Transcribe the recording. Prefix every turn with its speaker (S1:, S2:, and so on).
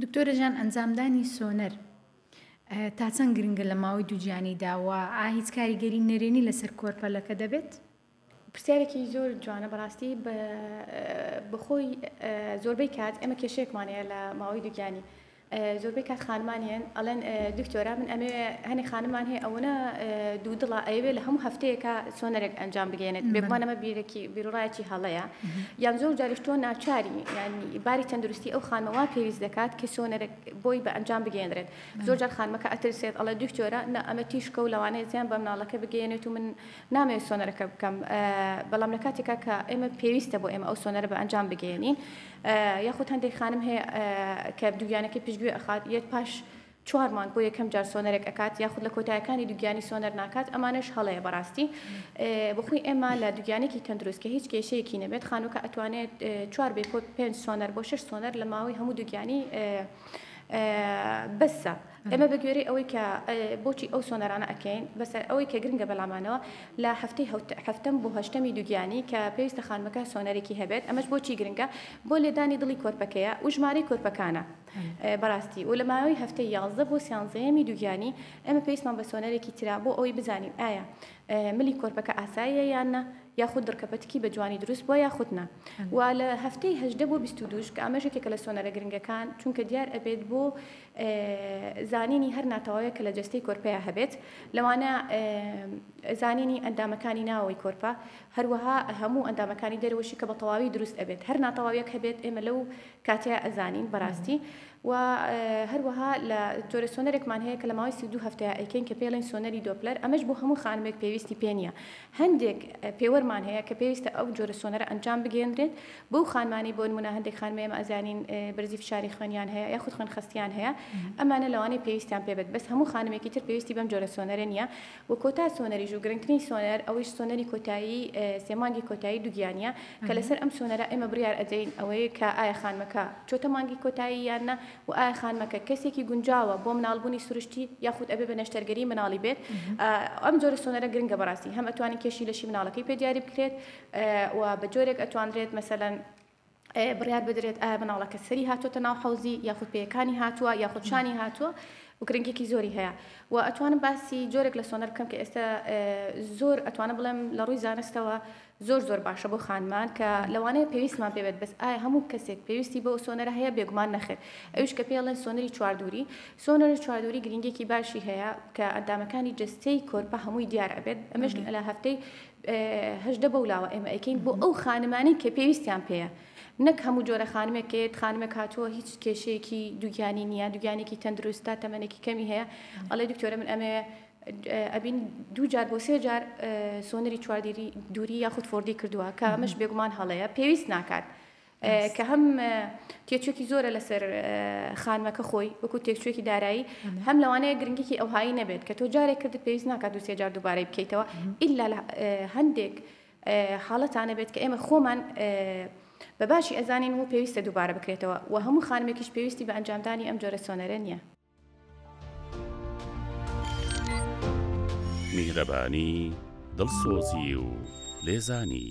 S1: دکتۆرە جان ئەنجامدانی سۆنەر تا چەند گرنگە لە ماوەی دووگیانیدا و ئا هیچ کاریگەری نەرێنی لەسەر کۆرپەلەکە دەبێت؟ پرسیارێکی
S2: زۆر جوانە بەڕاستی بەخۆی زۆربەی کات ئێمە کێشێکمان هەیە لە ماوەی دووگیانی زۆربەی کات خانمان هێن ئەڵێن دکتۆرا من ئەمێ هەنێ خانمان هەیە ئەوەنە دوو دڵە ئەیەوێ لە هەموو هەفتەیەکە سۆنەرێک ئەنجام بگەێنێت بێگومانەمە بیرێکی بیرڕایەکی هەڵەیە یان زۆر جاریش تۆ ناچاری یانی باری تەندروستی ئەو خانمە وا پێویست دەکات کە سۆنەرە بۆی بە ئەنجام بگەێنرێت زۆر جار خانمەکە ئەترسێت ئەڵە دکتۆرە نە ئەمە تیشکە و لەوانەیە زیان بە مناڵەکە بگەێنێت و من نامێ سۆنەرەکە بکەم بەڵام لە کاتێکا کە ئێمە پێویستە بۆ ئێمە ئەو سۆنەرە بە ئەنجام بگەێنین یاخود هەندێک خانم هەیە کە دوگیانەکەی پشتگوێ ئەخات یەت پاش چوار مانگ بۆ یەکەم جار سۆنەرێک ئەکات یاخود لە کۆتایەکانی دوگیانی سۆنەر ناکات ئەمانەش هەڵەیە بەڕاستی بۆخۆی ئێمە لە دوگیانێکی تەندروست کە هیچ کێشەیەکی نەبێت خانووکە ئەتوانێت چوار بێ کۆت پێنج سۆنەر بۆ شش سۆنەر لە ماوەی هەموو دوگیانی بەسە ئەمە بە گوێری ئەوەی کە بۆچی ئەو سۆنەرانە ئەکەین بەسەر ئەوەی کە گرنگە بەلامانەوە لە هەفتەی هەفتم بۆ هەشتەمی دوگیانی کە پێویستە خانمەکە سۆنەرێکی هەبێت ئەمەش بۆچی گرنگە بۆ لێدانی دڵی کۆرپەکەیە و ژمارەی کۆرپەکانە. بەڕاستی و لە ماوەی هەفتەی یازدە بۆ سیانزەیەمی دووگیانی ئێمە پێویستمان بە سۆنەرێکی ترە بۆ ئەوەی بزانین ئایا ملی کۆرپەکە ئاساییە یان نا یاخود دڕکەپەتکی بە جوانی دروست بووە یاخود نا و لە هەفتەی هەژدە بۆ بیست و دووش کە ئەمەش یەکێکە لە سۆنەرە گرنگەکان چونکە دیار ئەبێت بۆ زانینی هەر ناتەواویە کە لە جەستەی کۆرپەیە هەبێت لەوانە زانینی ئەندامەکانی ناوەوەی کۆرپە هەروەها هەموو ئەندامەکانی دەرەوەشی کە بە تەواوی دروست ئەبێت هەر ناتەواویەک هەبێت ئێمە لەو کاتیای ئەزانین بەراستی وە هەروەها لە جۆرە سۆنەرێکمان هەیە کە لە ماوەی سی و دوو هەفتەیە ئەیکەین کە پێڵێن سۆنەری دۆپلەر ئەمەش بۆ هەموو خانمێک پێویستی پێ نیە هەندێک پێوەرمان هەیە کە پێویستە ئەو جۆرە سۆنەرە ئەنجام بگێندرێت بەو خانمانەی بۆ نمونە هەندێک خانمە ئێمە ئەزانین بەرزی فشاری خوێنیان هەیە یاخود خوێن خەستیان هەیە ئەمانە لەوانەی پێویستیان پێبێت بەس هەموو خانمێکی تر پێویستی بەم جۆرە سۆنەرە نیە و کۆتا سۆنەریش و گرنگترین سۆنەر ئەویش سۆنەری کۆتایی سێ مانگی کۆتایی دوگیانیە کە لەسەر ئەم سۆنەرە ئێمە بریار ئەدەین ئەوەی کە ئایا خانمەکە چۆتە مانگی کۆتایی یان نا و ئایا خانمەکە کەسێکی گونجاوە بۆ مناڵ بونی سروشتی یاخود ئەبێ بە نەشتەرگەری مناڵی بێت ئەم جۆرە سۆنەرە گرنگە بەڕاستی هەم ئەتوانین کێشی لەشی مناڵەکەی پێ دیاری بکرێت و بە جۆرێک ئەتوانرێت مەسەلەن بڕیار بدرێت ئایا مناڵەکە سەری هاتۆتە ناو حوزی یاخود پێەکانی هاتووە یاخود شانی هاتووە و گرنگێکی زۆری هەیە و ئەتوانم باسی جۆرێک لە سۆنەر بکەم کە ئێستا زۆر ئەتوانە بڵێم لە ڕووی زانستەوە زۆر زۆر باشە بۆ خانمان کە لەوانەیە پێویستمان پێبێت بەس ئایا هەموو کەسێک پێویستی بۆ سۆنەرە هەیە بێگومان نەخێت ئەوش کە پێڵێن سۆنەری چواردووری سۆنەری چواردووری گرنگێکی باشی هەیە کە ئەندامەکانی جستەی کۆرپە هەمووی دیار ئەبێت ئەمەش لە هەفتەی هەژدە بەو لاوە ئێمە ئەیکەین بۆ ئەو خانمانەی کە پێویستیان پێەیە نەک هەموو جۆرە خانمێک کە یەت خانمێک هاتووە هیچ کێشەیەکی دووگیانی نییە دووگیانێکی تەندروستە تەمەێکی کەمی هەیە ئەڵێ دکتۆرە من ئەمەیە ئەبین دوو جار بۆ سێ جار سۆنەری چواردیری دووری یاخود فۆردی کردووە کە ئەمەش بێگومان هەڵەیە پێویست ناکات کە هەم تێچوێکی زۆرە لەسەر خانمەکە خۆی وەکو تێکچوێکی دارایی هەم لەوانەیە گرنگیکی ئەوهایی نەبێت کە تۆ جارێک کرد پێویست ناکات دوسێ جار دووبارەی بکەیتەوە ئللا هەندێک حاڵەتانە بێت کە ئێمە خۆمان بە باشی ئەزانین و پێویستە دووبارە بکرێتەوە و هەموو خانمێکیش پێویستی بە ئەنجامدانی ئەم جۆرە سۆنەرە نییە.
S3: میهرەبانی دڵسۆزی و لێزانی